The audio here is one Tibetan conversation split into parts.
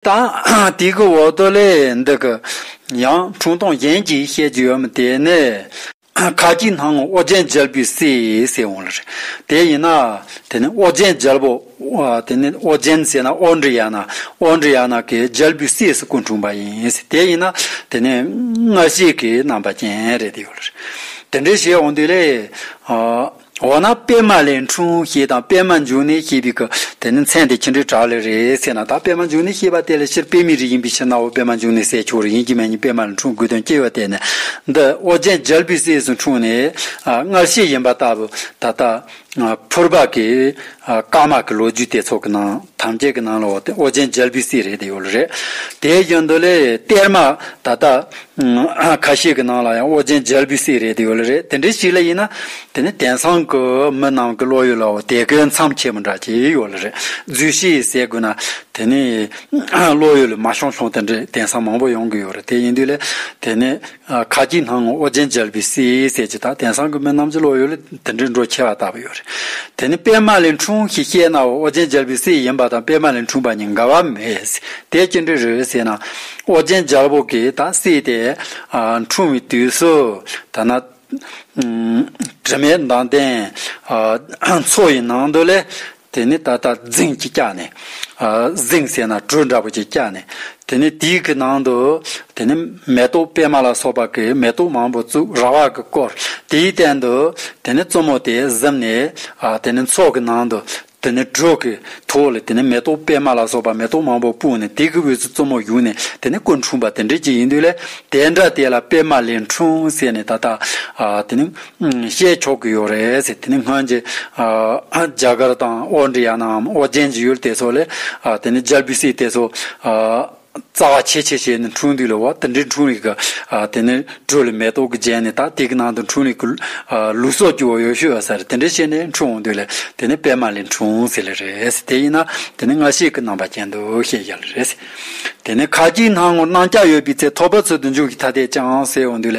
དང། དེ་གི་འོག་ཏུ་ལས་འདི་གི། ཡང་འཁྲུངས་སྟོང་གཞན་གྱིས་བཤད་རྒྱུ་ཡོད་མི་དེ་ནི། ཁ་ཅིག་སྣང་ངོ་ཨོ་རྒྱན་རྒྱལ་པོའི་སྲས་ཟེར་འོང་ལ་རེ། དེ་ཡིན་ན། དེ་ནི་ཨོ་རྒྱན་རྒྱལ་པོ། དེ་ནི་ཨོ་རྒྱན་ཟེར་ན་ཨོ་འདྲི་ཡ་ན། ཨོ་འདྲི་ཡ་ན་གི་རྒྱལ་པོའི་སྲས་སུ་སྐུ་འཁྲུངས་པ་ཡིན། དེ་ཡིན་ན། དེ་ནི་སྔ་ཕྱི་གི་རྣམ་པ་ཅན་རེད་དེ་ཡོད་ལ་རེ། དེ་འདྲའི་ཞེས་འོང་དུས་ལས། འོ་ན་པད་མ་ལས་འཁྲུངས་ཞེས་དང་པད་མ་འབྱུང་གནས་ཞེས་པའི་གི་དེ་ནི་མཚན་དེ་ཅི་འདྲའི་དྲག་ལས་རེད་ཟེར་ན་ད་པད་མ་འབྱུང་གནས་ཞེས་པ་དེ་ལ་ཕྱིར་པད་མའི་རིགས་ཡིན་པའི་ཕྱིར་གནའ་བོ་པད་མ་འབྱུང་གནས་སྲས་མཆོག་རིགས་ཡིན་གྱི་མེད་ཉིད་པད་མ་ལས་འཁྲུངས་དགོས་དོན་ཅི་ཡོད་དེ་ནི་འདི་ཨོ་རྒྱན་རྒྱལ་པོའི་སྲས་སུ་འཁྲུངས་ནས་སྔར་བཤད་ཡིན་པ་ལྟ་བུ་ད་ལྟ་ཕུར་པ་གིས་དཀར་དམར་གྱི་ལོ་རྒྱུས་དེ་ཚོགས་ཀྱི་ནང། ཐམས་ཅད་ཀྱི་ནང་ལ་འོག་ཏེ་ཨོ་རྒྱན་རྒྱལ་པོའི་སྲས་རེད་དེ་ཡོད་ལ་རེད། དེའི་རྒྱུན་དུ་ལས་གཏེར་མ་ད་ལྟ་ཁ་ཤས་ཀྱི་ནང་ལ་ཡང་ཨོ་རྒྱན་རྒྱལ་པོའི་སྲས་རེད་དེ་ཡོད་ལ་རེད་དེ་འདྲའི་ཞིག་ལ་ཡིན་ན། དེ་ནི་དེང་སང་གི་མི་རྣམས་ཀྱི་བློ་ཡུལ་ལ་འོ་དེ་གའི་མཚམས་ཆེན་པོ་འདྲ་ཞིག་ཡོད་ལ་རེད་རྫུས་ཤིག་ཟེར་དགོས་ན། དེ་ནི་བློ་ཡུལ་ལ་མ་ཤོང་ཤོང་དེ་འདྲའི་དེང་སང་མང་པོ་ཡོང་གི་ཡོད་རེད་དེ་ཡིན་དུས་ལས་དེ་ནི་ཁ་ཅིག་སྣང་ངོ་ཨོ་རྒྱན་མཇལ་བའི་སའི་གསལ་བྱེད་དག་དེང་སང་གི་མི་རྣམས་ཀྱི་བློ་ཡུལ་ལ་དེ་འདྲའི་འགྲོ་ཆེ་བ་ལྟ་བུ་ཡོད་རེད། དེ་ནི་པད་མ་ལས་འཁྲུངས་ཞེས་བཤད་ན་ཨོ་རྒྱན་མཇལ་བའི་སྲས་ཡིན་པ་དང་པད་མ་ལས་འཁྲུངས་པ་གཉིས་འགལ་བ་མེད། དེ་ཅི་འདྲའི་རེད་ཟེར་ན། ཨོ་རྒྱན་མཇལ་བོ་གིས་ད་སྲས་དེ་འཁྲུངས་བའི་དུས་སུ། ཐ་ན། དྲི་མེད་མདངས་ལྡན། མཚོ་ཡི་ནང་དུ་ལས། དེ་ནས་ད་ལྟ་རྫིང་གཅིག་བཀྱགས་ནས། རྫིང་ཟེར་ན་གྲུ་འདྲ་པོ་གཅིག་བཀྱགས་ནས། དེ་ནས་དེའི་གི་ནང་དུ། དེ་ནས་མེ་ཏོག་པད་མ་ལ་སོགས་པ་གི་མེ་ཏོག་མང་པོ་བཙུགས་ར་བ་གི་བསྐོར། དེའི་སྟེང་དུ། དེ་ནས་བཙུན་མོ་དེས་གཟིམས་ནས། དེ་ནས་མཚོག་གི་ནང་དུ། དེ་ནས་གྲུ་གི་ཐོག་ལ་དེ་ནས་མེ་ཏོག་པད་མ་ལ་སོགས་པ་མེ་ཏོག་མང་པོ་སྤུངས་ནས་དེ་གི་དབུས་སུ་བཙུན་མོ་བཞུགས་ནས་དེ་ནས་སྐུ་འཁྲུངས་པ་དེ་འདྲའི་གཅིག་ཡིན་དུས་ལས་དེ་འདྲ་དེ་ལ་པད་མ་ལས་འཁྲུངས་ཟེར་ནས་ད་ལྟ། དེ་ནས། བཤད་ཆོག་གི་ཡོད་རེད་ཟེར་དེ་ནི་སྔོན་གྱི་རྒྱ་གར་དང་ཨོ་འདྲི་ཡ་ནའམ་ཨོ་རྒྱན་གྱི་ཡུལ་དེ་ཚོ་ལས་དེ་ནི་རྒྱལ་བུ་སྲས་དེ་ཚོ་རྩ་བ་ཆེ་ཆེ་བྱས་ནས་འཁྲུངས་དུས་ལ་བ་དེ་འདྲའི་འཁྲུངས་རིགས་ཀྱི་དེ་ནི་དྲོད་ལ་མེ་ཏོག་གིས་བརྒྱན་ནས་ད་དེ་གི་ནང་དུ་འཁྲུངས་རིགས་ཀྱི་ལུས་སྲོག་རྒྱུ་བ་ཡོ་ཤུ་ཨ་ཟེར་དེ་འདྲས་བཤད་ནས་འཁྲུངས་འོང་དུས་ལ་དེ་ནི་པད་མ་ལས་འཁྲུངས་ཟེར་ལེ་རེད་ཟེར་དེ་ཡིན་ན་དེ་ནི་ང་ཤེས་ཀྱི་རྣམ་པ་ཅན་དུ་བཤད་བཞག་ལེ་རེད་ཟེར་དེ་ནི་ཁ་ཅིག་སྣང་ངོར་སྣང་སྐྱ་ཡོད་པའི་ཚེ་ཐོག་པ་ཚུལ་དུ་འཇུག་གི་ཐ་དད་ཅིང་ཟེར་འོང་དུས་ལ་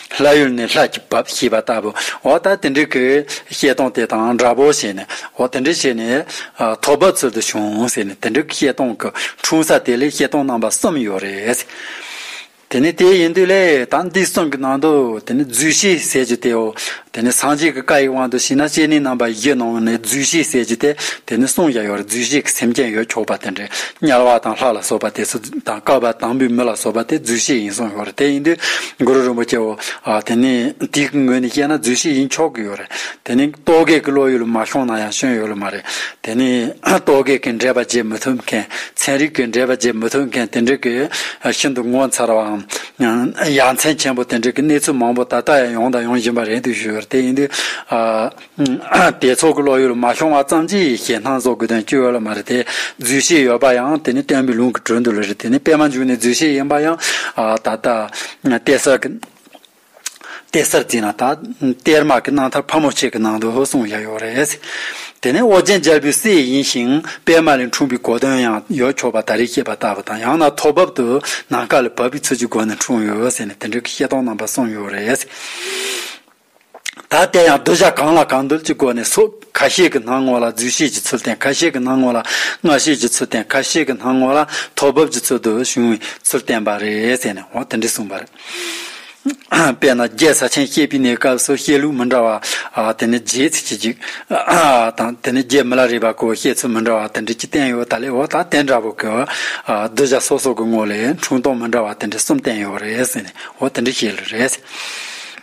ལྷ་ཡུལ་ནི་ལྷ་ཀྱི་བབས་ཞེས་པ་ལྟ་བུའོ། ད་དེ་འདྲའི་གི་བཤད་སྟངས་དེ་དང་འདྲ་བོ་བྱས་ནས། འོ་དེ་འདྲ་བྱས་ནས། ཐོག་བབས་ཚུལ་དུ་བྱུང་ཟེར་ནས་དེ་འདྲའི་གི་བཤད་སྟངས་གི་འཁྲུངས་ས་དེ་ལས་བཤད་སྟངས་རྣམ་པ་གསུམ་ཡོད་རེད། དེ་ནི་དེ་ཡིན་དུས་ལས་ད་འདི་གསུམ་གི་ནང་དུ་དེ་ནི་རྫུས་ཤིག་ཟེར་རྒྱུ་དེའོ། དེ་ནི་སངས་རྒྱས་ཀྱི་བཀའ་ཡི་དབང་དུ་བྱས་ན་སྤྱན་ནི་རྣམ་པ་བཞི་ནང་ནས་རྫུས་ཤིག་ཟེར་རྒྱུ་དེ་དེ་ནི་གསུང་བཞག་ཡོད་རེད་རྫུས་ཤིག་གི་སེམས་ཅན་ཡོད་ཆོག་པ་དེ་འདྲའི་དམྱལ་བ་དང་ལྷ་ལ་སོགས་པ་དེ་ཚོ་དང་བསྐལ་པ་དང་པོའི་མི་ལ་སོགས་པ་དེ་རྫུས་ཤིག་ཡིན་གསུང་ཡོད་རེད་དེ་ཡིན་དུས། གུ་རུ་རིན་པོ་ཆེའོ། དེ་ནས་དེའི་ངོས་ནས་བཤད་ན་རྫུན་བཤད་ཡིན་ཆོག་གི་ཡོད་རེད། དེ་ནི་རྟོག་གེ་གི་བློ་ཡོད་ལ་མ་ཤོང་ན་ཡང་སྐྱོན་ཡོད་ལ་མ་རེད། དེ་ནི་རྟོག་གེ་གི་འགྲེལ་པ་བརྗེད་མི་ཐུབ་མཁན་ཚན་རིག་གི་འགྲེལ་པ་བརྗེད་མི་ཐུབ་མཁན་དེ་འདྲ་གི་ཤིན་ཏུ་ངོ་མཚར་བའམ། ཡ་མཚན་ཆེན་པོ་དེ་འདྲ་གི་གནས་ཚུལ་མང་པོ་ད་ལྟ་ཡང་ཡོང་དང་ཡོང་བཞིན་པ་རེད་འདུག་ཞུ་ཡོད་རེད་དེ་ཡིན་དུས། དེ་ཚོགས་ཀྱི་བློ་ཡུལ་མ་ཤོང་བ་ཙམ་གྱིས་ཞེ་སྣང་བཟོ་དགོས་དོན་ཅི་ཡོད་ལ་མ་རེད་དེ། རྫུས་ཤིག་ཡོད་པ་ཡང་དེ་ནི་སྟོན་པའི་ལུང་གི་དྲོད་འདུ་ལ་རེད་དེ་ནི་དཔེ་མ་འཇུག་ནས་རྫུས་ཤིག་ཡིན་པ་ཡང། ད་ལྟ། གཏེར་གསར་གྱི། གཏེར་གསར་བརྩིས་ན་ད། གཏེར་མ་གི་སྣང་མཐར་ཕ་མོ་ཆེ་གི་ནང་དུ་སོང་བཞག་ཡོད་རེད། དེ་ནི་ཨོ་རྒྱན་རྒྱལ་པོའི་སྲས་ཡིན་ཞིང་དཔེ་མ་ལས་འཁྲུངས་པའི་གོ་དོན་ཡང་ཡོད་ཆོག་པ་ད་རེས་བཤད་པ་ལྟ་བུ་དང་ཡང་ན་ཐོག་བབ་ཏུ་ནམ་མཁའ་ལ་བབས་པའི་ཚུལ་གྱི་སྒོ་ནས་འཁྲུངས་ཡོད་ཟེར་ནས་དེ་འདྲའི་ཤེས་རྟོགས་རྣམ་པ་གསུངས་ཡོད་རེད། ད་ལྟའི་ཡང་གདུལ་བྱ་གང་ལ་གང་འདུལ་གྱི་སྒོ་ནས་སོགས་ཁ་ཤས་ཀྱི་སྣང་ངོ་ལ་རྫུས་ཤེས་ཀྱི་ཚུལ་བསྟན་ཁ་ཤས་ཀྱི་སྣང་ངོ་ལ་སྔགས་ཤེས་ཀྱི་ཚུལ་བསྟན་ཁ་ཤས་ཀྱི་སྣང་ངོ་ལ་ཐོག་བབས་ཀྱི་ཚུལ་དུ་བྱུང་བའི་ཚུལ་བསྟན་པ་རེད་ཟེར་ནས་འོ་དེ་འདྲས་གསུངས་པ་རེད། དཔེར་ན་རྒྱལ་ས་ཆེན་བཤད་པའི་གནས་སྐབས་སུ་བཤད་ལུགས་མི་འདྲ་བ་དེ་ནི་རྒྱའི་ཚིག་གཅིག་གཅིག་དང་དེ་ནི་རྒྱའི་མི་ལ་རས་པ་སྐོར་བཤད་ཚུལ་མི་འདྲ་བ་དེ་འདྲས་ཀྱི་བསྟན་ཡོད་ད་ལས་འོ་ད་དེ་འདྲ་བོ་གི་གདུལ་བྱ་སོ་སོ་གི་ངོ་ལས་འཁྲུངས་སྟོང་མི་འདྲ་བ་དེ་འདྲས་གསུམ་བསྟན་ཡོད་རེད་ཟེར་ནས་འོ་དེ་འདྲས་བཤད་ལུགས་རེད།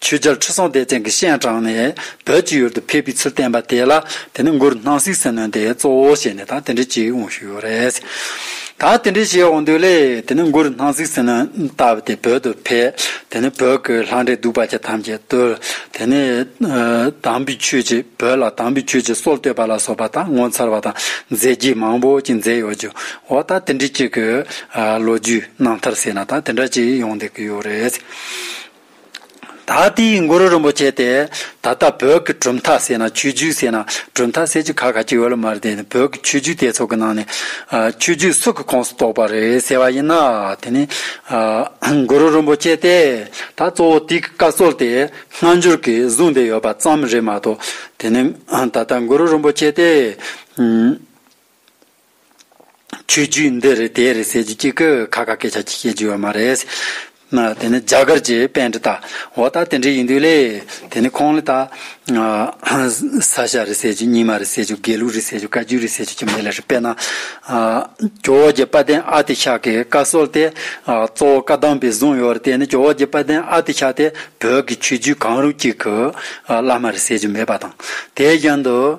ཆོས་རྒྱལ་ཁྲི་སྲོང་ལྡེ་བཙན་གྱི་ཤན་དྲངས་ནས་བོད་ཀྱི་ཡུལ་དུ་ཕེབས་པའི་ཚུལ་བསྟན་པ་དེ་ལ་དེ་ནི་མགུར་སྣང་སིག་སེ་ནོན་དེ་གཙོ་བོ་བྱས་ནས་དང་དེ་འབྲེལ་གྱི་དབང་ཤུགས་ཡོད་རེད། ད་དེ་འབྲེལ་བྱེད་འོང་དུས་ལས་དེ་ནི་མགུར་སྣང་སིག་སེ་ནོན་ལྟ་བུ་དེ་བོད་དུ་ཕེབས་དེ་ནི་བོད་ཀྱི་ལྷ་འདྲེ་གདུག་པ་ཅན་ཐམས་ཅད་བཏུལ་དེ་ནི་དམ་པའི་ཆོས་ཀྱི་བོད་ལ་དམ་པའི་ཆོས་ཀྱི་སྲོལ་གཏོད་པ་ལ་སོགས་པ་དང་ངོ་མཚར་བ་དང་མཛད་རྗེས་མང་པོ་ཅིག་མཛད་ཡོད་ཀྱི་འོ་ད་དེ་འབྲེལ་གྱི་གི་ལོ་རྒྱུས་རྣམ་ཐར་ཟེར་ན་དང་དེ་འདྲ་ཅིག་ཡོང་སྡད་ཀྱི་ཡོད་རེད། ད་ལྟའི་གུ་རུ་རིན་པོ་ཆེ་དེ་ད་ལྟ་བོད་ཀྱི་གྲུབ་མཐའ་ཟེར་ན་ཆོས་བརྒྱུད་ཟེར་ན་གྲུབ་མཐའ་ཟེར་རྒྱུ་ག་ག་ཅིག་ཡོད་ལ་མ་རེད་དེ་ནི་བོད་ཀྱི་ཆོས་བརྒྱུད་དེ་ཚོ་གི་ནང་ནས་ཆོས་བརྒྱུད་སུ་གི་ཁོངས་སུ་གཏོགས་པ་རེད་ཟེར་བ་ཡིན་ན་དེ་ནི་གུ་རུ་རིན་པོ་ཆེ་དེ་ད་གཙོ་བོ་དེའི་བཀའ་སྲོལ་དེ་སྔ་འགྱུར་གྱིས་བཟུང་བསྡད་ཡོད་པ་ཙམ་རེད་མ་གཏོགས་དེ་ནི་ད་ལྟ་གུ་རུ་རིན་པོ་ཆེ་དེ་ཆོས་བརྒྱུད་འདི་རེད་དེ་རེད་ཟེར་རྒྱུ་གཅིག་གི་ཁ་ཁ་སྐད་ཆ་གཅིག་བཤད་རྒྱུ་ཡོད་མ་རེད། དེ་ནི་རྒྱ་གར་གྱི་དཔལ་འབྲི་དག་འོ་ད་དེ་འདྲས་ཡིན་དུས་ལས་དེ་ནི་ཁོང་ལ་ད། ས་ཞྭ་རེད་ཟེར་རྒྱུ་སྙིགས་མ་རེད་ཟེར་རྒྱུ་དགེ་ལུགས་རེད་ཟེར་རྒྱུ་བཀའ་བརྒྱུད་རེད་ཟེར་རྒྱུ་གྱི་མི་ལ་རེ་དཔེར་ན། ཇོ་བོ་རྗེ་དཔལ་ལྡན་ཨ་ཏི་ཤ་གི་བཀའ་སྲོལ་དེ་གཙོ་བོ་བཀའ་གདམས་པས་བཟུང་ཡོད་རེད་དེ་ནི་ཇོ་བོ་རྗེ་དཔལ་ལྡན་ཨ་ཏི་ཤ་དེ་བོད་ཀྱི་ཆོས་བརྒྱུད་གང་རུང་གཅིག་གི་བླ་མ་རེད་ཟེར་རྒྱུ་མེད་པ་དང་དེའི་རྒྱུན་དུ།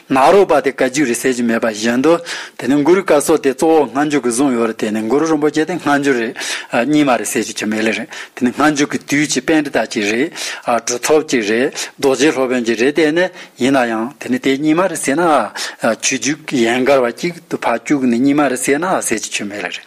ནག་རོག་པ་དེ་བཀའ་རྒྱུད་རེད་ཟེར་གྱི་མེད་པ་བཞིན་དུ། དེ་ནི་གུ་རུ་བཀའ་སོགས་དེ་གཙོ་བོ་སྔ་འཇུག་གི་གཟུངས་ཡོད་རེད་དེ་ནི་གུ་རུ་རིན་པོ་ཆེ་དེ་སྔ་འཇུག་རེད། གཉིས་མ་རེད་ཟེར་གྱི་ཆོ་མེད་ལེ་རེད་དེ་ནི་སྔ་འཇུག་གི་དུས་ཀྱི་དཔལ་འབྲི་དག་ཅིག་རེད། གྲུབ་ཐོབ་ཅིག་རེད་རྡོ་རྗེ་སློབ་དཔོན་གྱི་རེད་དེ་ནི་ཡིན་ན་ཡང་དེ་ནི་དེ་གཉིས་མ་རེད་ཟེར་ན། ཆོས་རྒྱུད་ཡན་གར་བ་གཅིག་ཏུ་ཕ་སྐྱུག་ནི་གཉིས་མ་རེད་ཟེར་ན་ཟེར་གྱི་ཆོ་མེད་ལེ་རེད།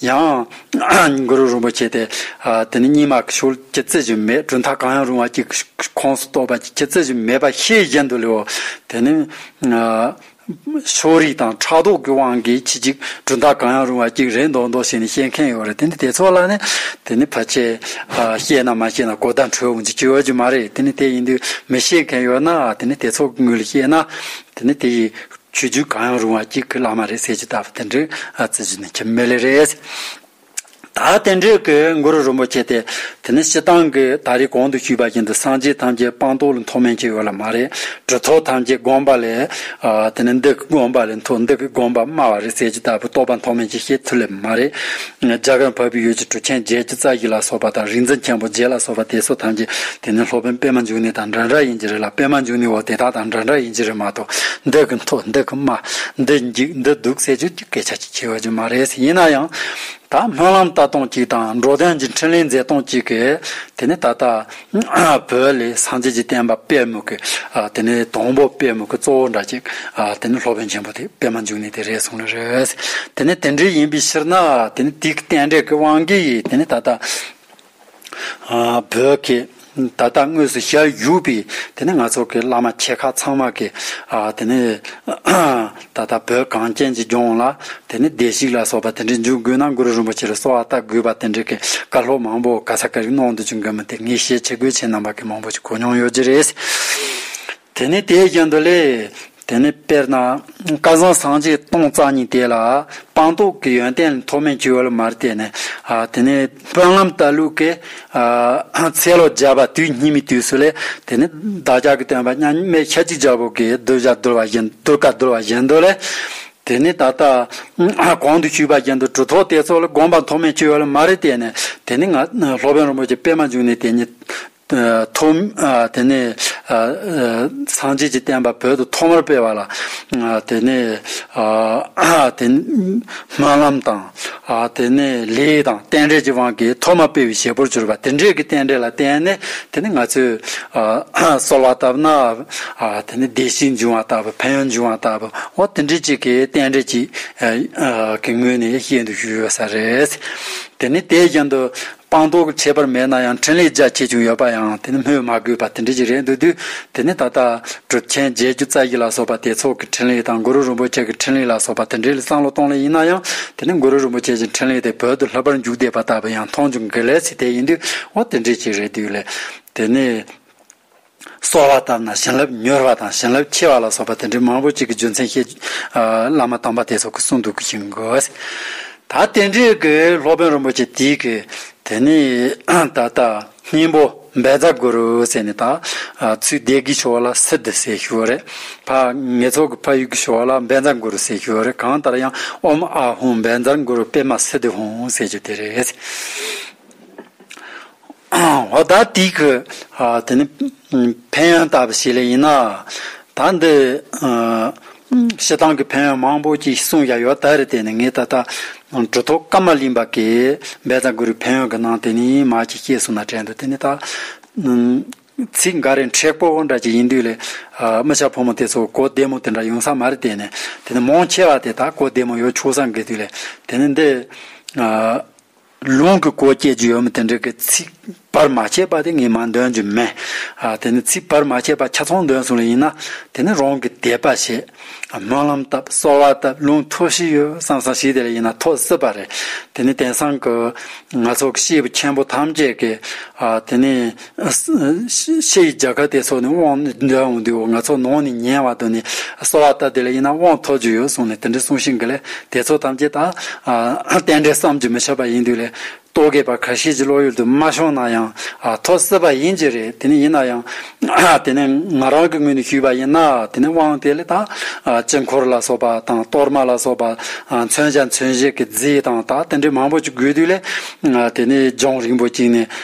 ཡང། གུ་རུ་རིན་པོ་ཆེ་དེ། དེ་ནི་སྙིགས་མ་ཀི་ཤུལ་གྱི་རྩི་བཞིན་མེད་གྲུབ་མཐའ་གང་ཡང་རུང་བ་ཀྱིས་ཁོངས་སུ་གཏོགས་པ་ཀྱི་ཀྱི་རྩི་བཞིན་མེད་པ་ཤེས་བཞིན་དུ་ལེའོ། དེ་ནི། ཕྱོགས་རིས་དང་ཕྲག་དོག་གི་དབང་གིས་ཕྱི་ཅིག་གྲུབ་མཐའ་གང་ཡང་རུང་བ་ཀྱིས་རེ་མདོག་མདོག་བྱས་ནས་བཤད་མཁན་ཡོད་རེད་དེ་ནི་དེ་ཚོ་ལ་ནི། དེ་ནི་ཕལ་ཆེར། ཤེས་ན་མ་ཤེས་ན་གོ་བརྡ་འཕྲོད་འོང་རྒྱུ་ཅི་ཡོད་རྒྱུ་མ་རེད་དེ་ནི་དེ་ཡིན་དུས་མི་ཤེས་མཁན་ཡོད་ན་དེ་ནི་དེ་ཚོ་དངུལ་ཤེས་ན། དེ་ནི་དེ་ཡིས། ཆོས་བརྒྱུད་གང་ཡང་རུང་བ་གཅིག་གི་བླ་མ་རེད་ཟེར་གྱི་ད་བསྟན་འགྲོའི་བརྩི་གཞི་ནི་ཁྱིམ་མི་ལས་རེད། ད་བསྟན་འགྲོས་ཀྱི་མགུར་རུ་རིན་པོ་ཆེ་དེ་དེ་ནི་སྤྱི་བཏང་གི་ད་རེས་གོང་དུ་ཞུས་པ་བཞིན་དུ་སངས་རྒྱས་ཐམས་ཅད་སྤངས་རྟོགས་ལ་མཐོ་དམན་ཅིག་ཡོད་ལ་མ་རེད་གྲུ་ཐོག་ཐམས་ཅད་དགོངས་པ་ལས་དེ་ནི་འདི་གི་དགོངས་པ་ལས་མཐོ་འདི་གི་དགོངས་པ་དམའ་བ་རེད་ཟེར་གྱི་ད་བུ་རྟོགས་པ་མཐོ་དམན་ཅིག་བཤད་ཚུལ་ལས་མ་རེད། ལྗགས་ཀྱང་བབས་པའི་ཡོས་བྱི་གྲུ་ཆེན་བརྒྱད་ཀྱི་རྩ་བཞི་ལ་སོགས་པ་དང་རིག་འཛིན་ཆེན་པོ་བརྒྱད་ལ་སོགས་པ་དེ་སོགས་ཐམས་ཅད་དེ་ནི་སློབ་དཔོན་པད་མ་འབྱུང་གནས་དང་འདྲ་འདྲ་ཡིན་གྱི་རེད་ལ་པད་མ་འབྱུང་གནས་འོག་དེ་དག་དང་འདྲ་འདྲ་ཡིན་གྱི་རེད་མ་གཏོགས་འདི་གི་མཐོ་འདི་གི་དམའ་འདི་འཇིགས་འདི་སྡུག་ཟེར་རྒྱུ་གྱི་སྐད་ཆ་ཅིག་བྱེད་འོས་ཀྱི་མ་རེད་ཡིན་ན་ཡང་ད་སྨོན་ལམ་ལྟ་སྟངས་ཅིག་དང་འགྲོ་དོན་གྱི་འཕྲིན་ལས་མཛད་སྟངས་ཅིག་གིས་དེ་ནི་ད་ལྟ། བོད་ལས་སངས་རྒྱས་ཀྱི་བསྟན་པ་སྤེལ་མུ་གེ། དེ་ནས་དང་པོ་སྤེལ་མུ་གེ་གཙོ་བོ་འདྲ་ཅིག། དེ་ནི་སློབ་དཔོན་ཆེན་པོ་དེ་སྤེལ་མ་འཇུག་ནས་དེ་རེད་གསུངས་ནི་རེད། དེ་ནི་དེ་འདྲའི་ཡིན་པའི་ཕྱིར་ན། དེ་ནི་དེའི་རྟེན་འབྲེལ་གྱི་དབང་གིས་དེ་ནི་ད་ལྟ། བོད་ཀྱི་ད་ལྟ་དངོས་སུ་ཞལ་བཞུགས་པའི་དེ་ནི་ང་ཚོ་གི་བླ་མ་ཆེ་ཁག་ཚང་མ་གི། དེ་ནི། ད་ལྟ་བོད་གངས་ཅན་གྱི་ལྗོངས་ལ་དེ་ནི་བདེ་གཤེགས་ལ་སོགས་པ་དེ་འདྲའི་འཇུག་དགོས་ན་གུ་རུ་རིན་པོ་ཆེ་ལ་གསོལ་བ་བཏབ་དགོས་པ་དེ་འདྲའི་བཀའ་སློབ་མང་པོ་ག་ས་ག་རེ་གནང་འདུག་ཅུང་གོ་མི་ཐེ་ངས་བཤད་ཆེ་དགོས་ཆེ་རྣམ་པ་གི་མང་པོ་ཞིག་གོ་མྱོང་ཡོད་ཀྱི་རེད། དེ་ནས་དེའི་རྒྱུན་དུ་ལས། དེ་ནས་དཔེར་ན། བསྐལ་བཟང་སངས་རྒྱས་སྟོང་རྩ་གཉིས་དེ་ལ། སྤངས་རྟོགས་ཀྱི་ཡོན་ཏན་ཐོགས་མེད་བཅོལ་བར་མ་བལྟས་ནས། དེ་ནས། དཔོན་ངམ་ལྟ་ལུགས་ཀྱི། ཚེ་ལོ་བརྒྱ་པ་དུས་སྙིགས་མའི་དུས་སུ་ལས། དེ་ནི་བདག་ཅག་གི་སྟོན་པ་མཉམ་མེད་ཤཱཀྱའི་རྒྱལ་པོ་དགའི་གདུལ་བྱ་གདུལ་བ་བཞིན་དུ་བཀའ་གདུལ་བ་བཞིན་དུ་ལས། དེ་ནས་ད་ལྟ། གོང་དུ་ཞུས་པ་བཞིན་དུ་གྲུ་ཐོགས་དེ་ཚོགས་ལ་དགོངས་པ་མཐོ་དམན་བཅོལ་བ་ལ་མ་རེ་བལྟས་ནས་དེ་ནི་ང། སློབ་དཔོན་རིན་པོ་ཆེ་པད་མ་འབྱུང་གནས་དེ་ཉིད། ཐོག། དེ་ནས། སངས་རྒྱས་ཀྱི་བསྟན་པ་བོད་དུ་ཐོག་མར་སྤེལ་བ་ལ། དེ་ནས། སྨོན་ལམ་དང། དེ་ནས་ལས་དང་རྟེན་འབྲེལ་གྱི་དབང་གིས་ཐོག་མ་སྤེལ་བའི་བྱེད་པོར་གྱུར་པ་དེ་འབྲེལ་གྱི་རྟེན་འབྲེལ་ལ་བརྟེན་ནས་དེ་ནས་ང་ཚོས། གསོལ་བ་བཏབ་ན། དེ་ནས་བདེ་གཤེགས་འབྱུང་བ་ལྟ་བུ་ཕན་ཡོན་འབྱུང་བ་ལྟ་བུ་འོ་དེ་འདྲའི་ཅིག་གི་རྟེན་འབྲེལ་གྱིས། གི་ངོས་ནས་ཤེས་འདུག་ཞུས་ཡོད་ས་རེད། དེ་ནས་དེའི་རྒྱུན་དུ། དཔང་རྟགས་ཁྱད་པར་མེད་ན་ཡང་འཕྲིན་ལས་རྒྱ་ཆེ་ཆུང་ཡོད་པ་ཡང་དེ་ནི་སྨོས་མ་དགོས་པ་དེ་འདྲ་ཞིག་རེད་འདུག་དུས་དེ་ནི་ད་ལྟ་གྲུབ་ཆེན་རྗེ་སྒྱུ་རྩལ་གྱི་ལ་སོགས་པ་དེ་ཚོགས་ཀྱི་འཕྲིན་ལས་དང་གུ་རུ་རིན་པོ་ཆེ་གི་འཕྲིན་ལས་ལ་སོགས་པ་དེ་འདྲའི་བསམ་བློ་གཏོང་ལེ་ཡིན་ན་ཡང་དེ་ནི་གུ་རུ་རིན་པོ་ཆེ་གྱི་འཕྲིན་ལས་དེ་བོད་དུ་ལྷག་པར་འཇུག་བསྡད་པ་ལྟ་བུ་ཡང་མཐོང་ཆུང་གི་ལས་ཚིག་དེ་ཡིན་དུས་འོ་དེ་འདྲ་ཞིག་རེད་འདུག་ལེ། དེ་ནི། གསོལ་བ་བཏབ་ན་བྱིན་རླབས་མྱུར་བ་དང་བྱིན་རླབས་ཆེ་བ་ལ་སོགས་པ་དེ་འདྲའི་མང་པོ་ཅིག་གི་རྒྱུ་མཚན་བཤད། བླ་མ་དམ་པ་དེ་ཚོ་གི་གསུང་འདུག་གིན་གོ། ད་དེ་འདྲའི་གི་སློབ་དཔོན་རིན་པོ་ཆེ་དེའི་གི་དེ་ནི་ད་ལྟ་སྙིང་པོ་འབད་རྫ་གུ་རུ་ཟེར་ནས་ད་ཚུལ་འདས་གི་ཞོ་བ་ལ་སི་ཏི་ཟེར་ཞོ་རེད། ཕ་ངེད་ཚོ་གི་ཕ་ཡུལ་གི་ཞོ་བ་ལ་འབད་རྫ་གུ་རུ་ཟེར་ཞོ་རེད་གང་ལྟར་ཡང་ཨོམ་ཨ་ཧུང་འབད་རྫ་གུ་རུ་པད་མ་སི་ཏི་ཧོང་ཟེར་རྒྱུ་དེ་རེད། ཧོ་ད་ཏི་ཁི། དེ་ནི་ཕན་ཡོན་བཏབ་པ་ཞིག་ལས་ཡིན་ན། ད་འདི། ཞེ་སྡང་གི་ཕན་ཡོན་མང་པོ་ཅིག་གསུངས་ཡ་ཡོད་ད་རེད་དེ་ནི་ངས་ད་ལྟ། འབྲུ་ཐོག་བཀའ་མ་ལིན་པ་ཀའི་འབད་རྩ་འགུ་རི་ཕན་ཡོན་གི་ནང་དེ་ནི་མ་ཅིག་སྐྱེས་གསུངས་ན་དྲན་འདུག་དེ་ནི་ད། ཚིག་འགའ་རེ་མཁྲེགས་པོ་བོ་འདྲ་ཅིག་ཡིན་དུས་ལས། དམུ་ཤ་ཕོ་མོ་དེ་ཚོ་གོ་བདེ་མོ་དེ་འདྲ་ཡོང་ས་མ་རེད་དེ་ནི། དེ་ནི་མོང་ཆེ་བ་དེ་དག་གོ་བདེ་མོ་ཡོད་ཆོག་ས་འགི་དུས་ལས་དེ་ནི་འདི། ལུང་གི་གོ་བསྐྱེད་ཀྱི་ཡོད་མེད་དེ་འདྲ་གི་ཚིག་བར་མ་ཆད་པ་དེ་ངས་མ་འདོན་རྒྱུ་མེད། དེ་ནི་ཚིག་བར་མ་ཆད་པ་ཆ་ཚང་འདོན་གསུངས་ལ་ཡིན་ན་དེ་ནི་རང་གི་དད་པ་ཞེས། སྨོན་ལམ་བཏབ་གསོལ་བ་བཏབ་ལུང་མཐོ་བཞི་ཡོད་བསམ་སང་ཞིག་དེ་ལ་ཡིན་ན་མཐོ་སྲིད་པ་རེད། དེ་ནི་དེང་སང་གི་ང་ཚོ་གི་སྐྱེས་བུ་ཆེན་པོ་ཐམས་ཅད་ཀྱི་དེ་ནི། ཤེས་ཀྱི་རྒྱལ་ཁབ་དེ་ཚོ་ནི་དབང་འདུས་འོང་དུས་ང་ཚོ་ནང་ནས་ཉན་བ་དང་ནི་གསོ་བ་ལྟ་དེ་ལ་ཡིན་ན་དབང་ཐོབ་རྒྱུ་ཡོད་གསུངས་ནས་དེ་འདྲའི་གསུང་ཤིང་གི་ལས་དེ་ཚོ་ཐམས་ཅད་དང་གཏན་བྲལ་བསམ་གྱི་མི་ཆོག་པ་ཡིན་དུས་ལས་གཏོད་དགོས་པ་ག་ཤེད་ཀྱི་བློ་ཡུལ་དུ་མ་ཤོང་ན་ཡང་ཐོབ་སྲིད་པ་ཡིན་གྱི་རེད་དེ་ནི་ཡིན་ན་ཡང་དེ་ནི་ང་རང་གི་ངོས་ནས་ཞུས་པ་ཡིན་ན་དེ་ནི་དབང་དེ་ལས་དང་དཀྱིལ་འཁོར་ལ་སོགས་པ་དང་གཏོར་མ་ལ་སོགས་པ་མཚོན་བྱ་མཚོན་བྱེད་ཀྱི་རྫས་དང་དང་དེ་འདྲའི་མང་པོ་ཅིག་དགོས་དུས་ལས་དེ་ནི་ལྗོངས་རིང་པོ་བཅིངས་ནས།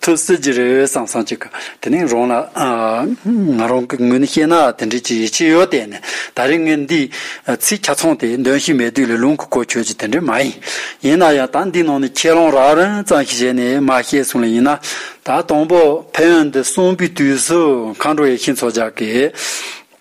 ཐུགས་བསིལ་གྱི་རེ་འོལ་སང་སང་ཅིག་གི་དེ་ནས་རང་ལ། ང་རང་གི་ངོས་ནས་བཤད་ན་དེ་འདྲའི་ཅི་ཡི་ཕྱི་ཡོལ་བལྟས་ནས་ད་རེས་ངས་འདིའི། ཚིག་ཆ་ཚང་དེ་འདོན་བཞིན་མེད་དུས་ལས་རླུང་གི་གོ་ཆོད་ཀྱི་དེ་འདྲའི་མ་ཡིན། ཡིན་ན་ཡང་ད་འདིའི་ནང་ནས་ཁས་ལོངས་རག་རན་ཙམ་ཞིག་བྱས་ནས་མ་བཤད་གསུངས་ལ་ཡིན་ན། ད་དང་པོ་ཕན་ཡོན་འདི་གསུངས་པའི་དུས་སུ་མཁའ་འགྲོ་ཡེ་ཤེས་མཚོ་ལྗགས་ཀྱིས།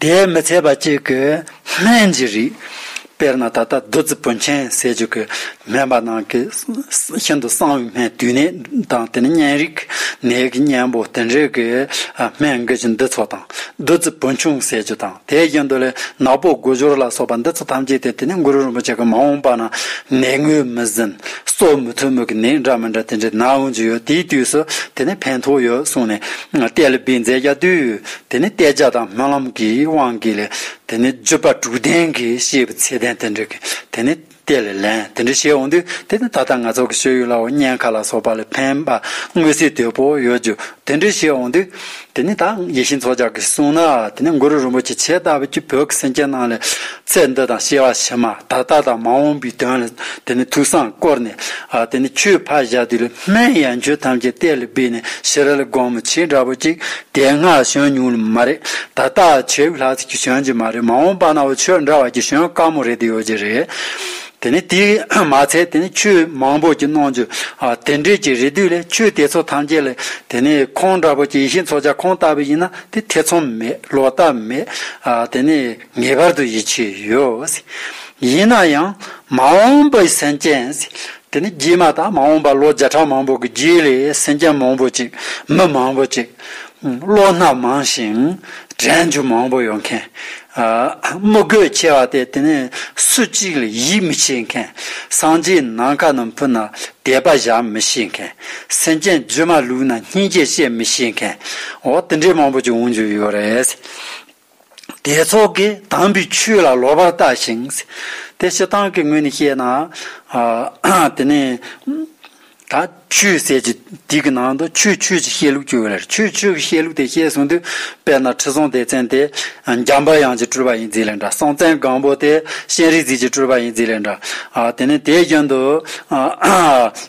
དེས་མི་ཚད་པ་གཅིག་གི་སྨན་གྱི་རིགས། དཔེར་ན་ད་ལྟ་བདུད་རྩི་བུན་ཆེན་ཟས་བཅུད་ཀྱི་སྨན་པ་རྣམས་ཀྱིས་ཤིན་ཏུ་གསང་བའི་སྨན་དུས་ནད་དང་དེ་ནི་གཉན་རིགས་ཀྱི་ནད་ཀྱི་གཉེན་པོ་དེ་འདྲའི་གི་སྨན་འགུལ་གྱི་འདི་ཚོ་དང། བདུད་རྩི་བུན་ཆུང་ཟས་བཅུད་དང་དེའི་རྒྱུན་དུ་ལས་ནག་པོ་དགུ་སྦྱོར་ལ་སོགས་པ་འདི་ཚོ་ཐམས་ཅད་དེ་དེ་ནི་གུ་རུ་རིན་པོ་ཆེ་གི་མ་འོངས་པ་ན་ནད་ངོས་མི་ཟིན་གསོ་མི་ཐུབ་མོད་ཀྱི་ནད་འདྲ་མི་འདྲ་དེ་འདྲའི་ནད་འོང་རྒྱུ་ཡོད་དེའི་དུས་སུ་དེ་ནི་ཕན་ཐོགས་ཡོད་གསུངས་ནས་གཏད་ལ་སྦིས་མཛད་རྒྱ་དུས་དེ་ནི་བལྟས་བྱ་དང་སྨོན་ལམ་གྱི་དབང་གིས་ལས། དེ་ནི་བརྗོད་པ་དྲུག་ལྡན་གྱི་ཤེས་པའི་ཚད་ལྡན་དེ་འདྲ་གི། དེ་ནི་དེ་ལས་ལན་དེ་འདྲ་བྱས་འོང་དུས་དེ་ནི་ད་ལྟ་ང་ཚོ་གི་ཤོད་ཡུལ་ལའོ་སྙན་ཁ་ལ་སོགས་པ་ལས་ཕན་པ་དངོས་སུ་དོད་པོ་ཡོད་རྒྱུ་དེ་འདྲ་བྱས་འོང་དུས། དེ་ནི་ད་ཡེ་ཤེས་མཚོ་ལྗགས་ཀྱིས་གསུངས་ན་དེ་ནི་མགུར་རུ་རིན་པོ་ཆེ་ཆད་ལྟ་བུ་གྱིས་བོད་ཀྱི་སེམས་ཅན་རྣམས་ལས་ཚད་འདི་དང་ཤེས་པ་ཕྱི་མ་ད་ལྟ་དང་མ་འོངས་པའི་དོན་ལ་དེ་ནི་ཐུགས་བསམ་བསྐོར་ནས་དེ་ནི་ཆོས་ཕ་བཞག་དུས་ལ། སྨན་ཡང་རྒྱུད་ཐམས་ཅད་གཏད་ལ་འབུལ་ནས་ཤི་རལ་སྒོང་མོ་བྱིས་འདྲ་བོ་ཅིག་དེ་སྔ་བྱོན་མྱོང་ནི་མ་རེད། ད་ལྟ་བྱེའུ་ལྷ་ཚིགས་ཀྱི་བྱོན་གྱི་མ་རེད་མ་འོངས་པ་ན་འོ་ཆོས་འདྲ་བ་ཀྱི་བྱོན་དཀའ་མོ་རེད་དེ་ཡོད་ཀྱི་རེད། དེ་ནས་དེས་མ་ཚད་དེ་ནས་ཆོས་མང་པོ་ཀྱི་གནང་རྒྱུ། དེ་འདྲས་ཀྱི་རེ་དུས་ལས་ཆོས་དེ་ཚོ་ཐམས་ཅད་ལ་དེ་ནས་ཁོང་འདྲ་བོ་ཀྱི་ཡིད་ཤེས་འཚོ་བྱ་ཁོང་ལྟ་བུ་ཡིན་ན་དེ་ཐེ་ཚོམ་མེད་ལོག་ལྟ་མེད། དེ་ནས་ངེས་པར་དུ་ཡིད་ཆེས་ཡོད། ཡིན་ན་ཡང་མ་འོངས་པའི་སེམས་ཅན། དེ་ནི་རྗེས་མ་དང་མ་འོངས་པ་ལོ་བརྒྱ་ཕྲག་མང་པོ་གི་རྗེས་ལས་སེམས་ཅན་མང་པོ་ཅིག་མི་མང་པོ་ཅིག། བློ་སྣ་མང་ཞིང་དྲན་འཇུག་མང་པོ་ཡོད་མཁན། དམུ་རྒོད་ཆེ་བ་སྟེ་དེ་ནི་སུ་གཅིག་ལ་ཡིད་མི་ཆེས་མཁན། སངས་རྒྱས་ནམ་མཁའ་རྣམས་ཕུལ་ན་དད་པ་བཞག་མི་ཤེས་མཁན། སེམས་ཅན་རྗེས་མ་ལུས་ན་སྙིང་རྗེ་བཤད་མི་ཤེས་མཁན། འོ་དེ་འདྲའི་མང་པོ་ཅིག་འོང་རྒྱུ་ཡོད་རེད། དེའི་ཚོགས་ཀྱིས་དམ་པའི་ཆོས་ལ་ལོག་པར་ལྟ་ཞིང། དེ་ཞེ་སྡང་གི་ངོས་ནས་བཤད་ན། དེ་ནས། ད་ཆོས་ཟད་ཀྱི་དུས་ཀྱི་ནང་དུ་ཆོས་ཆོས་ཀྱི་བཤད་ལུགས་བཅོས་བ་ལས་ཆོས་ཆོས་ཀྱི་བཤད་ལུགས་དེ་བཤད་གསུངས་དུས་དཔེར་ན་ཁྲི་སྲོང་ལྡེ་བཙན་དེ། འཇམ་པ་དབྱངས་ཀྱི་སྤྲུལ་པ་ཡིན་རྫས་ལས་འདྲ་སྲོང་བཙན་སྒམ་པོ་དེ་གཤེན་རིག་འཛིན་གྱི་སྤྲུལ་པ་ཡིན་རྫས་ལས་འདྲ། དེ་ནས་དེའི་རྒྱུན་དུ།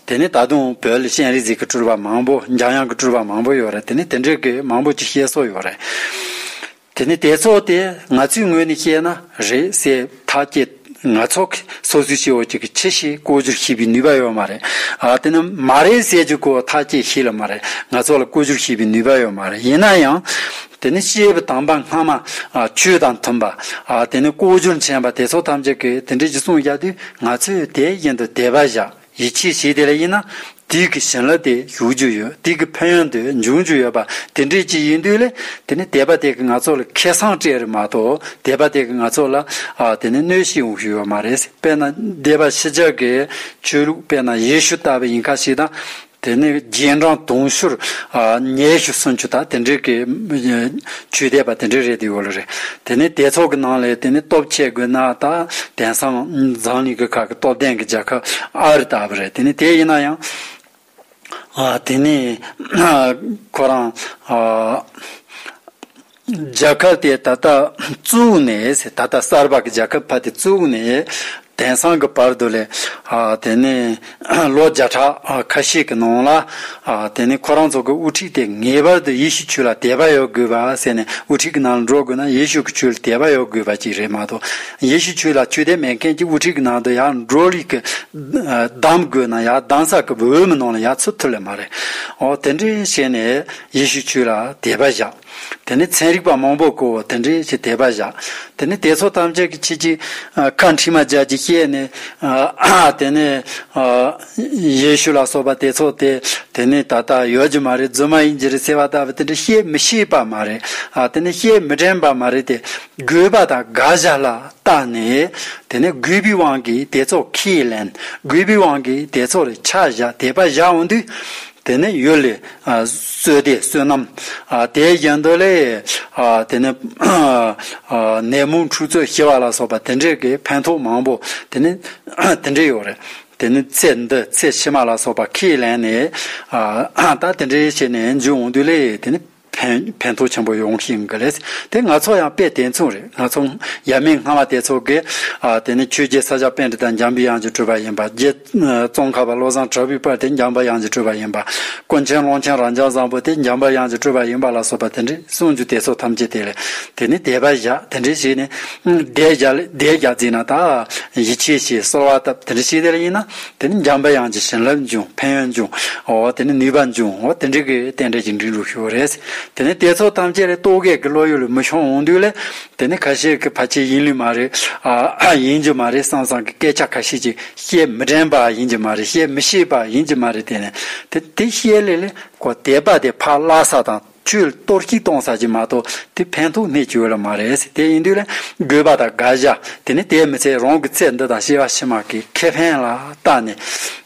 དེ་ནི་ད་དུང་བོད་ལ་ཤན་རིག་རྩིས་ཀྱི་སྤྲུལ་པ་མང་པོ་འཇམ་དབྱངས་ཀྱི་སྤྲུལ་པ་མང་པོ་ཡོད་རེད་དེ་ནི་དེ་འདྲའི་གི་མང་པོ་ཅིག་ཤེས་སྲོལ་ཡོད་རེད། དེ་ནི་དེ་ཚོ་དེ་ང་ཚོའི་ངོས་ནས་བཤད་ན་རེད་སེ་ད་ཀྱེ་ང་ཚོ་གི་སོ་སོའི་ཤེས་འོག་ཅིག་གི་ཁྱི་ཞིག་བཀོལ་རྒྱུར་ཤེས་པའི་ནུས་པ་ཡོད་མ་རེད་ཨ་དེ་ནི་མ་རེད་སེ་ཅིག་གོ་ད་ཀྱེ་ཤི་ལ་མ་རེད་ང་ཚོ་ལ་བཀོལ་རྒྱུར་ཤེས་པའི་ནུས་པ་ཡོད་མ་རེད་ཡིན་ན་ཡང་དེ་ནི་བཤད་པའི་དམ་པ་སྔ་མ་ཆོས་དང་མཐུན་པ་དེ་ནི་བཀོལ་རྒྱུར་མཁྱེན་པ་དེ་ཚོ་ཐམས་ཅད་གི་དེ་འདྲའི་གི་གསུང་བཞག་དུས་ང་ཚོས་དེ་བཞིན་དུ་དད་པ་བཞག། ཡིད་ཆེས་བྱས་དེ་ལ་དབྱེ་ན། དུས་ཀྱི་བྱིན་རླབས་དེ་ཞུགས་རྒྱུ་ཡོད་དུས་ཀྱི་ཕན་ཡོན་དེ་འབྱུང་རྒྱུ་ཡོད་པ་དེ་འདྲའི་ཅིག་ཡིན་དུས་ལ་དེ་ནི་དད་པ་དེ་གིས་ང་ཚོ་ལ་ཁེ་བཟང་སྤྲད་རིགས་མ་གཏོགས་དད་པ་དེ་གིས་ང་ཚོ་ལ་དེ་ནི་གནོད་གཞི་ཡོང་ཞིག་ཡོད་མ་རེད་དཔེར་ན་འདས་པ་ཕྱི་རྒྱལ་གྱི་ཆོས་ལུགས་དཔེར་ན་ཡེ་ཤུ་ལྟ་བུ་ཡིན་ཁ་ཞིག་དང་དེ་ནི་རྗེས་འབྲང་དུང་ཕྱུར་ཉེར་བཞི་སུམ་ཅུ་དང་དེ་འདྲའི་གི་ཇུས་འདེད་པ་དེ་འདྲའི་རེད་འདུག་ལ་རེད། དེ་ནི་སྡེ་ཚོགས་ཀྱི་ནང་ལས་དེ་ནི་སྟོབས་ཆེ་དགོས་ན་ད་དེང་སང་འཛམ་གླིང་གི་ཁག་གི་སྟོབས་ལྡན་གྱི་རྒྱལ་ཁབ་ཨ་རི་ལྟ་བུ་རེད་དེ་ནི་དེ་ཡིན་ན་ཡང། དེ་ནི་ཁོ་རང། རྒྱལ་ཁབ་དེ་ད་ལྟ་བཙུགས་ནས་ད་ལྟ་གསར་པ་གྱི་རྒྱལ་ཁབ་ཕ་དེ་བཙུགས་ནས་དེང་སང་གི་བར་དུ་ལས། དེ་ནས་ལོ་བརྒྱ་ཕྲག་ཁ་ཤས་ཀྱི་ནང་ལ། དེ་ནས་ཁོ་རང་ཚོ་གི་དབུ་ཁྲིད་དེ་ངེས་པར་དུ་ཡེ་ཤུ་ཆོས་ལ་དད་པ་ཡོད་དགོས་པ་ཟེར་ནས་དབུ་ཁྲིད་ཀྱི་ནང་ལ་འགྲོ་དགོས་ན་ཡེ་ཤུ་གི་ཆོས་ལ་དད་པ་ཡོད་དགོས་པ་ཅིག་རེད་མ་གཏོགས་ཡེ་ཤུ་ཆོས་ལ་ཆོས་དད་མེད་མཁན་གྱི་དབུ་ཁྲིད་ཀྱི་ནང་དུ་ཡང་འགྲོ་ལུས་ཀྱི་གདམས་དགོས་ན་ཡང་གདམས་ས་ཀྱི་འོས་མི་ནང་ལ་ཡང་ཚུད་ཐུབ་ལེ་མ་རེད། འོ་དེ་འདྲས་བྱས་ནས་ཡེ་ཤུ་ཆོས་ལ་དད་པ་བཞག། དེ་ནས་ཚན་རིག་པ་མང་པོ་བསྐོ་བ་དེ་འདྲའི་ཞིག་དད་པ་བཞག། དེ་ནས་དེ་ཚོ་ཐམས་ཅད་ཀྱི་ཕྱི་ཅིག་བཀའ་འཕྲིན་མ་སྦྱར་གྱི་ཤེས་ནས། དེ་ནས་ཡེ་ཤུ་ལ་སོགས་པ་དེ་ཚོ་དེ་དེ་ནས་ད་ལྟ་ཡོད་ཀྱི་མ་རེད་རྫུན་མ་ཡིན་གྱི་རེད་ཟེར་བ་ལྟ་བུ་དེ་འདྲ་བཤད་མི་ཤེས་པ་མ་རེད། དེ་ནས་བཤད་མི་དྲན་པ་མ་རེད་དེ། རྒོལ་བ་དང་དགག་བཞག་ལ་བརྟག་ནས། དེ་ནས་རྒོལ་བའི་དབང་གིས་དེ་ཚོ་ཁས་ལེན། རྒོལ་བའི་དབང་གིས་དེ་ཚོ་ལ་ཆ་བཞག་དད་པ་བཞག་འོང་དུས། དེ་ནས་ཡུལ་ལས་གསོས་ཏེ་བསོད་ནམས་དེའི་རྒྱན་དུ་ལས། དེ་ནས་ནད་མུག་འཁྲུག་རྩོད་ཞི་བ་ལ་སོགས་པ་དེ་འདྲའི་གི་ཕན་ཐོགས་མང་པོ་དེ་ནི་དེ་འདྲའི་ཡོད་རེད། དེ་ནི་ཚེ་འདི་ཚེ་ཕྱི་མ་ལ་སོགས་པ་ཁས་ལེན་ནས། ད་དེ་འདྲའི་བྱས་ནས་འཇུག་འོང་དུས་ལས་དེ་ནི། ཕན་ཕན་ཐོགས་ཆེན་པོ་ཡོང་གི་ཡིན་གི་རེད། དེ་ང་ཚོ་ཡང་དཔེ་དེ་མཚུངས་རེད། ང་ཚོ་ཡབ་མེས་སྔ་མ་དེ་ཚོ་གིས་དེ་ནི་ཆོས་རྒྱལ་ས་སྐྱ་དཔལ་རི་དང་འཇམ་དབྱངས་ཀྱི་སྤྲུལ་པ་ཡིན་པ། རྗེ་ཙོང་ཁ་པ་བློ་བཟང་དྲག་པོའི་བར་དེ་འཇམ་དབྱངས་ཀྱི་སྤྲུལ་པ་ཡིན་པ། དཀོན་མཆན་ཀློང་ཆེན་རང་བྱང་བཟང་པོ་དེ་འཇམ་དབྱངས་ཀྱི་སྤྲུལ་པ་ཡིན་པ་ལ་སོགས་པ་དེ་འདྲའི་གསུང་རྒྱུ་དེ་ཚོ་ཐམས་ཅད་དེ་ལས་དེ་ནི་དད་པ་བཞག་དེ་འདྲའི་ཞིག་ནས་དད་བཞག་ལས་དད་བཞག་བརྩིས་ན་ད་ཡིད་ཆེས་ཞེས་གསོལ་བ་བཏབ་དེ་འདྲའི་ཞིག་དེ་ལ་ཡིན་ན། དེ་ནི་འཇམ་དཔལ་དབྱངས་ཀྱི་བྱིན་རླབས་འབྱུང་ཕན་ཡོན་འབྱུང་ངོ། དེ་ནི་ནུས་པ་འབྱུང་ངོ་དེ་འདྲའི་གི་རྟེན་འབྲེལ་གྱི་འབྲིང་འགྲུབ་ཞུ་བ་རེད། དེ་ནི་དེ་ཚོ་ཐམས་ཅད་ལས་རྟོག་གེ་གི་བློ་ཡུལ་ལ་མི་ཤོང་འོང་དུས་ལས། དེ་ནི་ཁ་ཤས་ཀྱི་ཕ་ཁྱེད་ཡིན་ལུས་མ་རེད། ཡིན་རྒྱུ་མ་རེད་བསམ་བསམ་གི་སྐད་ཆ་ཁ་ཤས་ཀྱི་བཤད་མི་དྲན་པ་ཡིན་གྱི་མ་རེད་བཤད་མི་ཤེས་པ་ཡིན་གྱི་མ་རེད་དེ་ནི་དེ་དེ་བཤད་ལེ་ལེ་གོ་དེ་པ་དེ་ཕ་བླ་ས་དང། ཆུའི་གཏོར་སྐྱིལ་གཏོང་ས་ཅིག་མ་གཏོགས་དེ་ཕན་ཐོགས་མེད་ཀྱི་འོས་ལ་མ་རེད། དེ་ཡིན་དུས་ལ་དགོས་པ་དང་དགག་བཞག་དེ་ནི་དེའི་མི་ཚེ་རང་གི་ཚེ་འདི་དང་ཤི་བ་ཕྱི་མ་གི་ཁེ་ཕན་ལ་བརྟགས་ནས།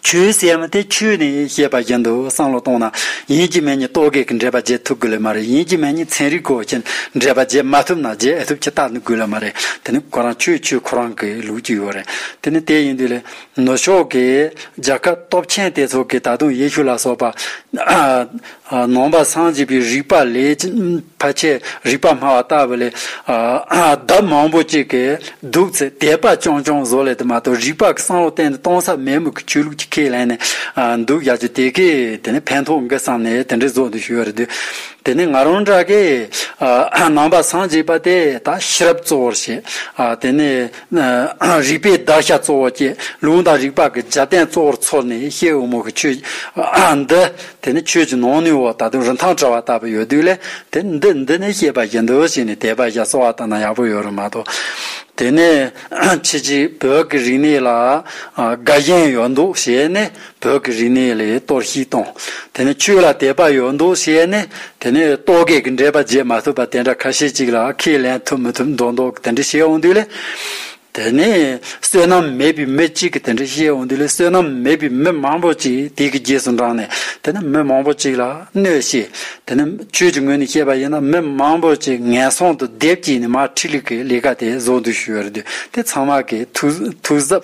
ཆུའི་སེམས་དེ་ཆུས་ནི་ཤེས་པ་བཞིན་དུ་བསམ་བློ་གཏོང་ན་ཡིན་གྱི་མེད་གཉིས་གཏོ་གེག་གི་འདྲེས་པ་བརྗེད་ཐུབ་དགོས་ལེ་མ་རེད་ཡིན་གྱི་མེད་གཉིས་ཚན་རིག་གོ་ཆེན་འདྲེས་པ་བརྗེད་མ་ཐུབ་ན་བརྗེད་ཨེ་ཐུབ་ཀྱི་བརྟག་དགོས་ལེ་མ་རེད་དེ་ནི་ཁོ་རང་ཆུའི་ཆུ་ཁོ་རང་གི་ལུགས་ཀྱི་ཡོད་རེད་དེ་ནི་དེ་ཡིན་དུས་ལ་ནུབ་ཕྱོགས་ཀྱི་རྒྱལ་ཁབ་སྟོབས་ཆེན་དེ་ཚོ་གིས་ད་དུང་ཡེ་ཤུ་ལ་སོགས་པ། ནང་པ་སངས་རྒྱས་པའི་རིགས་པ་ལས་ཕལ་ཆེར་རིགས་པ་སྨྲ་བ་ལྟ་བུ་ལས། ལྡབ་མང་པོ་གཅིག་གིས་བདུག་ཚེ་དད་པ་ཅུང་ཅུང་བཟོ་ལེ་དེ་མ་གཏོགས་རིགས་པ་གསང་བ་གཏན་དུ་གཏོང་ས་མེད་མོད་ཀྱི་ཆོས་ལུགས་ཀྱི་ཁས་ལེན་ནས་འདུག་ཡ་ཆོད་དེ་གས་དེ་ནས་ཕན་ཐོག་འགི་བསམ་ནས་དེ་འདྲའི་བཟོ་འདུག་ཞུ་ཡ་རེད་དུས་དེ་ནས་ང་རང་འདྲ་གས་ནང་པ་སངས་རྒྱས་པ་དེ་དག་ཤེས་རབ་གཙོ་བོར་བྱས་དེ་ནས། རིག་པའི་བདག་ཤ་གཙོ་བོ་བཅས་ལུང་དང་རིགས་པ་གི་སྦྱར་བསྟན་གཙོ་བོར་ཚོར་ནས་ཤེལ་འོལ་མོ་གི་ཆོས་འདི་དེ་ནི་ཆོས་ཀྱི་ནང་ནུས་བ་ད་དུང་རིན་ཐང་བྲལ་བ་ལྟ་བུ་ཡོད་དུས་ལས་དེ་འདི་འདི་ནས་ཤེས་པ་ཞིག་འདི་འོ་ཞིག་ནས་དེ་པ་ཞིག་གསོ་བ་ལྟ་ན་ཡག་པོ་ཡོད་རུང་མ་གཏོགས་དེ་ནས་ཕྱི་ཕྱི་བོད་ཀྱི་རིག་གནས་ལ་དགའ་ཞེན་ཡོད་འདུག་བྱས་ནས་བོད་ཀྱི་རིག་གནས་ལས་གཏོར་བཤིག་བཏང། དེ་ནི་ཆོས་ལ་དད་པ་ཡོད་འདུག་བཤད་ནས་དེ་ནས་རྟོག་གེ་གི་འགྲེལ་པ་བརྗེད་མ་ཐུབ་པ་དེ་འདྲ་ཁ་ཤས་ཅིག་ལ་ཁས་ལེན་ཐུབ་མི་ཐུབ་མདོག་མདོག་གི་དེ་འདྲ་བཤད་འོང་དུས་ལས། དེ་ནས་བསོད་ནམས་མེད་པའི་མི་གཅིག་གི་དེ་འདྲ་བཤད་འོང་དུས་ལས་བསོད་ནམས་མེད་པའི་མི་མང་པོ་ཅིག་དེ་གི་རྗེས་སུ་འབྲངས་ནས་དེ་ནི་མི་མང་པོ་ཅིག་ལ་གནོད་བཤད་དེ་ནི་ཆོས་ཀྱི་ངོས་ནས་བཤད་པ་ཡིན་ན་མི་མང་པོ་ཅིག་ངན་སོང་དུ་སྡེབ་སྐྱེས་ནས་མར་ཁྲིད་ལུགས་ཀྱི་ལས་ཀ་དེ་བཟོ་འདུག་ཞུ་བར་དུས་དེ་ཚང་མ་གི་ཐུགས་གཟབ།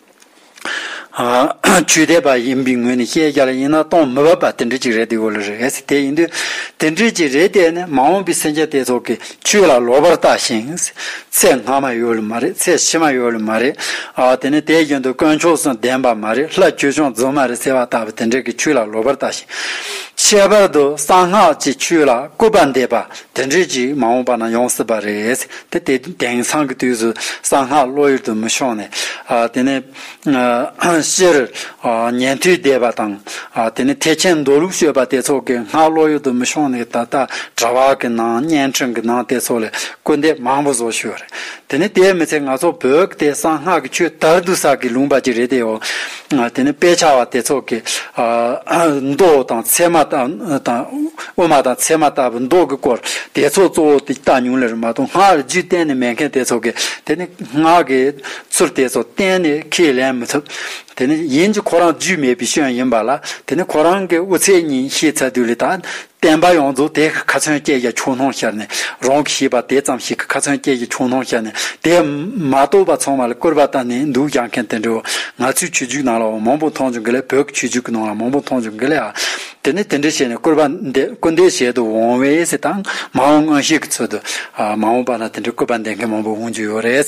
བཅུད་ལྡན་པ་ཡིན་པའི་ངོས་ནས་བཤད་རྒྱ་ལ་ཡིན་ན་སྟོང་མི་བབ་པ་དེ་འདྲ་ཅིག་རེད་འདུག་ལ་རེད་ཟེར་དེ་ཡིན་དུས་དེ་འདྲ་ཅིག་རེད་དེ་ནི་མ་འོངས་པའི་སེམས་ཅན་དེ་ཚོ་གི་བཅུད་ལ་ལོག་པར་བཏགས་ཤིང། ཚེ་སྔ་མ་ཡོད་ལ་མ་རེད་ཚེ་ཕྱི་མ་ཡོད་ལ་མ་རེད། དེ་ནི་དེའི་རྒྱུན་དུ་དཀོན་མཆོག་སུ་བདེན་པ་མ་རེད་ལྷ་བཅོས་སྐྱོང་རྫུན་མ་རེད་ཟེར་བ་ལྟ་བུ་དེ་འདྲ་གི་བཅུད་ལ་ལོག་པར་བཏགས་ཤིང། ཁྱད་པར་དུ་གསང་སྔགས་ཀྱི་བཅུད་ལ་སྐུར་པ་འདེབས་པ་དེ་འདྲ་ཅིག་མ་འོངས་པ་ན་ཡོང་སྲིད་པ་རེད། དེ་དེ་དེང་སང་གི་དུས་སུ་གསང་སྔགས་བློ་ཡུལ་དུ་མི་ཤོང་ནས། དེ་ནས་སྤྱིར་ཉན་ཐོས་སྡེ་པ་དང། དེ་ནས་ཐེག་ཆེན་མདོ་ལུགས་ཤོད་པ་དེ་ཚོ་གི་སྔགས་བློ་ཡུལ་དུ་མི་ཤོང་ནས་ད་ལྟ་དྲ་བ་གི་ནང་བརྙན་འཕྲིན་གི་ནང་དེ་ཚོ་ལས་སྐུར་འདེབས་མང་པོ་བཟོ་ཤོད་རེད། དེ་ནས་དེའི་མི་ཚེ་ང་ཚོ་བོད་ཀྱི་དེ་གསང་སྔགས་ཀྱི་ཆོས་དར་བསྡུ་ས་གི་ལུང་པ་ཅིག་རེད་དེའོ། དེ་ནས་དཔེ་ཆ་བ་དེ་ཚོགས་ཀྱིས། མདོག་དང་མཚན་མ་དང། དབུ་མ་དང་མཚན་མ་ལྟ་བུ་མདོག་གི་སྐོར་དེ་ཚོགས་གཙོ་བོ་དེ་ལྟ་ཉུང་ལེར་མ་མཐོང་སྔགས་རྒྱུད་གཏན་ནས་མེད་མཁན་དེ་ཚོགས་ཀྱིས་དེ་ནི་སྔགས་ཀྱི་ཚུལ་དེ་ཚོ་གཏན་ནས་ཁས་ལེན་མི་ཐུབ། དེ་ནི་ཡིན་གྱི་ཁོ་རང་རྒྱུས་མེད་པའི་སྐྱོན་ཡིན་པ་ལ་དེ་ནི་ཁོ་རང་གི་དབུ་ཚད་ཉིད་ཤེས་ཚད་དུས་ལས་ཐ་བསྟན་པ་ཡོངས་རྫོགས་དེ་ཁ་ཚོན་བཅད་ཀྱི་ཆུ་སྣང་ཤར་ནས་རང་གིས་ཤེས་པ་དེ་ཙམ་ཞིག་གི་ཁ་ཚོན་བཅད་ཀྱི་ཆུ་སྣང་ཤར་ནས་དེ་མ་རྟོགས་པ་ཚང་མ་ལ་སྐུར་པ་བཏང་ནས་འདུག་རྒྱག་མཁན་དེ་འདྲའོ། ང་ཚོའི་ཆོས་བརྒྱུད་ནང་ལའང་མང་པོ་མཐོང་བྱུང་གི་ལས་བོད་ཀྱི་ཆོས་བརྒྱུད་ཀྱི་ནང་ལ་མང་པོ་མཐོང་བྱུང་གི་ལས་ཨ། དེ་ནས་དེ་འདྲ་བྱས་ནས་སྐུར་པ་འདེབས་སྐུར་འདེབས་བྱེད་དུ་འོང་བས་སུ་དང་མ་འོངས་སྔོན་ཤེས་ཀྱི་ཚོད་དུ་མ་འོངས་པ་ན་དེ་འདྲའི་སྐུར་པ་འདེབས་མཁན་མང་པོ་འོང་རྒྱུ་ཡོད་རེད།